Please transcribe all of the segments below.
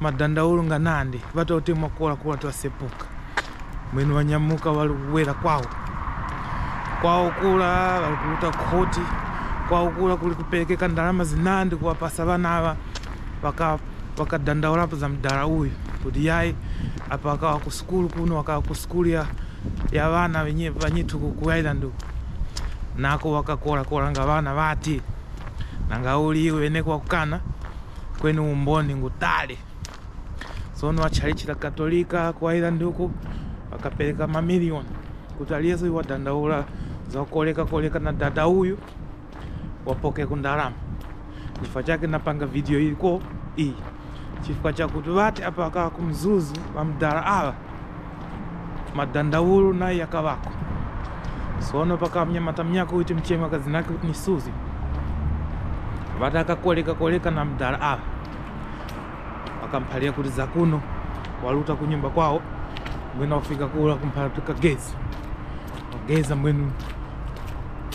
Madandaulo nga nandi batautemwa kola kola twasepuka mwenu banyamuka balikubwela kwao kwao kula balikuluta khoti kwao kula kuli kupelekeka ndalama zinandi kuwapasa bana aba bakadandaulapo baka za mdala uyu kuti yayi apa akawa ku sukulu kuno akawa ku sukulu ya ya bana banyithu ku, ku island uku nako bakakola kola nga bana bati nanga uli iwe neko wakukana kweni umboni ngutali tsono a tchalitchi la katolika ku ireland uku akapereka mamiliyoni kuti aliyense uyu wadandaula za kukolekakoleka na dada uyu wapoke ku ndalama chifukwa chake napanga video iliko iyi chifukwa chakuti vati apa kaa kumzuzu vamdala awa madandaulo naye yakabako sono paka mnyamata mnyako uti mchemwa kazi nake kuti ni suzi vati akakoleka koleka na mdala awa akamphalia kuti zakuno waluta kunyumba kwawo mwina wafika kula kumphala kuti kagezi wageza mwenu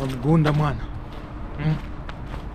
wamgunda mwana mm.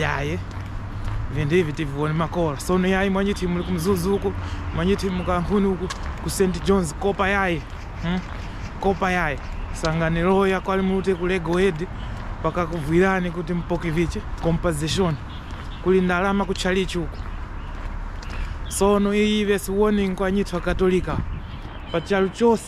yayi vinthu ivi tivione makola sono yayi mwanyithu muli kumzuzu uku manje timu kankhuni uku ku st johns kopa yayi hmm? kopa yayi sanganiloya kwali mulute ku lego head paka kuvwirani kuti mupoke vichi compensation kuli ndalama ku chalichi uku sono iyi vesi warning kwa nyithu akatolika pachalo chose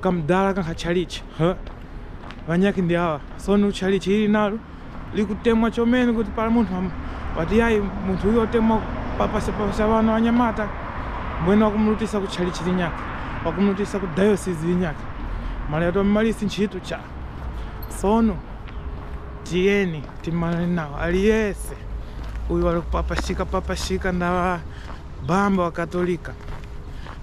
Kamdala kankha tchalitchi huh? Vanyaki ndi awa soni utchalitchi ili nalo likutemwa chomeni kuti pala munthu am- wati yayi munthu uyu otemwa papasapasa vano anyamata mbwene wakumlutisa ku tchalitchi linyaki wakumlutisa ku dayosizi linyaki mali ati wammalisi ntchito cha sono tiyeni timanane nawo aliyese uyu wali kupapashika papashika ndawa bamba wa katolika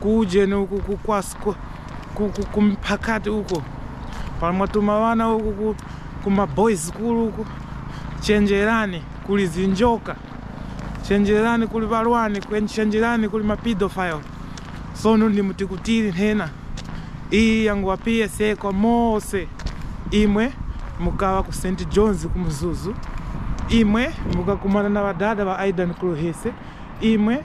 ku ujeni uku ku kwasko ku, ku, ku mphakati uko pamwatuma wana uku ku, ku maboys club uku chenjerani kuli zinjoka chenjerani kuli walwani chenjerani kuli mapidofile sono ndimutikuti nthena iyi yangu wa psa kwa mose imwe mukawa ku st johns ku mzuzu imwe mukakumana na wadada wa aidan kuluhese imwe